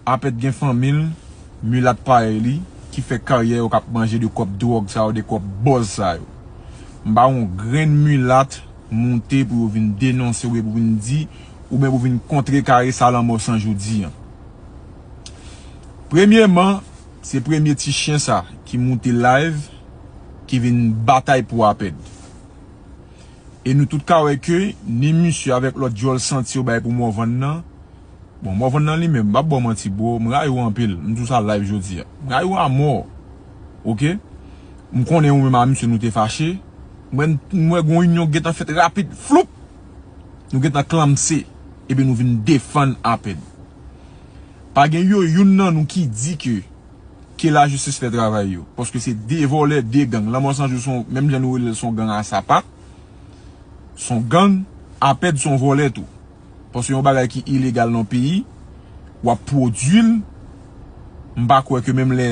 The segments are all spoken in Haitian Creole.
Apèt gen fanmi l, milat parèy li, ki fè karyè yo k ap manje de kòb dwòg sa yo, de kòb bòz sa yo. M pa wè yon grenn milat moute pou yo vin denonse oubyen pou vin di, oubyen pou vin kontrekare sa Lanmò 100 jou di an. Premyeman, se premye ti chyen sa ki moute live ki vin batay pou Apèd. E nou tout ka wè ke ni misye avèk lòt djòl santi yo bay pou Morvan nan, Bon Morvan nan li menm m pap baw manti bro m rayi ou anpil m di ou sa live jodi a m rayi ou a mò ok m konnen ou menm a misye nou te fache m wè m wè gon inyon ki gentan fèt rapid floup nou gentan klanmse epi nou vin defann apèn pa gen yo youn nan nou ki di ke ke lajistis fè travay yo paske se 2 vòlè 2 gang lanmò 100 jou son menm jan nou rele l son gang a sapat son gang apèd son vòlè tou. Paske yon bagay ki ilegal nan yon peyi, wap pwodui l, m pa kwè ke menm lè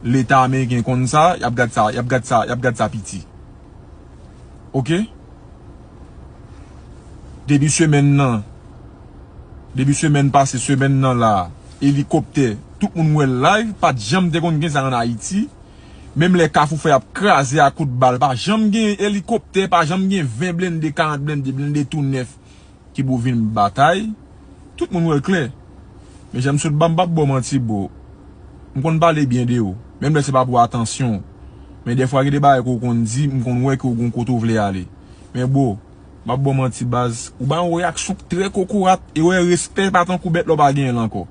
leta ameriken konn sa, yap gad sa, yap gad sa, yap gad sa piti. Ok. Debi semèn nan, debi semèn pase, semèn nan la, elikoptè, tout moun wè l live, pat janm te konn gen sa an Ayiti. Menm lè kafou fè ap kraze a kout bal, pa janm gen elikoptè, pa janm gen 20 blende, 40 blende, blende tou nèf, ki pou vin batay tout moun wèl klè men janm sot ba mpap baw manti bro mkonn pale byen de ou menm lè se pa pou atansyon men dèfwa gen de bagay ke ou konn di mkonn wè ke ou gon kote ou vle ale men bro mpap baw manti baz ou bay yon reyaksyon k trè kokorat e wè respè pa tankou bèt la ou pa genyen l ankò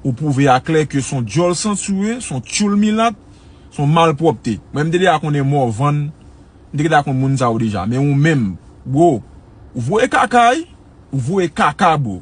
ou pwouve a klè ke son dyòl santi ou ye son tyoul milat son malpwòpte mwen mte deja konnen Morvan M te gentan konn moun sa yo deja men ou menm bro ou voye kaka wi ou voye kaka bro.